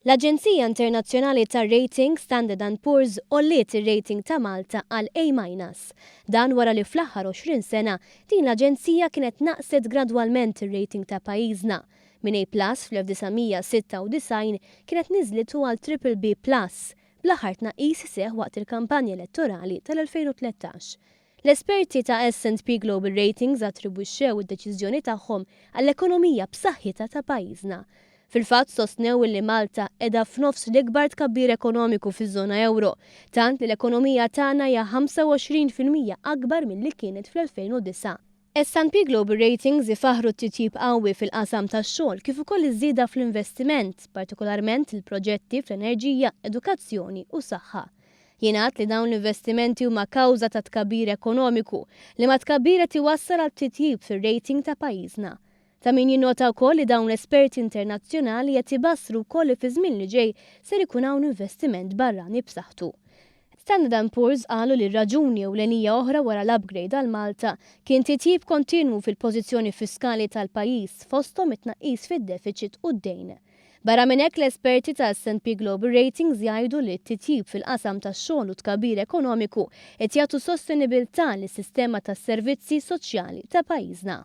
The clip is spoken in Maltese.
L-aġenzija internazzjonali tar-rating Standard and Poor's għolliet ir-rating ta' Malta għal A minus. Dan wara li fl-aħħar 20 sena din l-aġenzija kienet naqqset gradwalment ir-rating ta' pajjiżna. Minn A plus fl-1996 kienet niżlitu għal triple B plus, bl-aħħar tnaqqis seħħ waqt il-kampanja elettorali tal-2013. L-esperti ta' S and P Global Ratings attribwixxew id-deċiżjoni tagħhom għall-ekonomija b'saħħitha ta' pajjiżna. Fil-fatt sostnew illi Malta qiegħda f'nofs l-ikbar tkabbir ekonomiku fiż-żona ewro, tant li l-ekonomija tagħna hija 25 fil-mija akbar milli kienet fl-2009. S&P Global Ratings ifaħħru t-titjib qawwi fil-qasam tax-xogħol kif ukoll iż-żieda fl-investiment, partikolarment il-proġetti fl-enerġija, edukazzjoni u saħħa. Jingħad li dawn l-investimenti huma kawża tat-tkabbir ekonomiku, li mat-tkabbir qed iwassal għal titjib fir-rating ta' pajjiżna. Ta' min jinnota wkoll li dawn l-esperti internazzjonali qed ibassru wkoll li fiż-żmien li ġej ser ikun hawn investiment barrani b'saħħtu. Standard and Poor's qalu li raġuni ewlenija oħra wara l-upgrade għal Malta kien titjib kontinwu fil-pożizzjoni fiskali tal-pajjiż fosthom it-tnaqqis fid-defiċit u d-dejn. Barra minn hekk l-esperti ta' S&P Global Ratings jgħidu li t-titjib fil-qasam tax-xogħol u t-tkabbir ekonomiku qed jagħtu sostenibilità lis-sistema tas-servizzi soċjali ta' pajjiżna.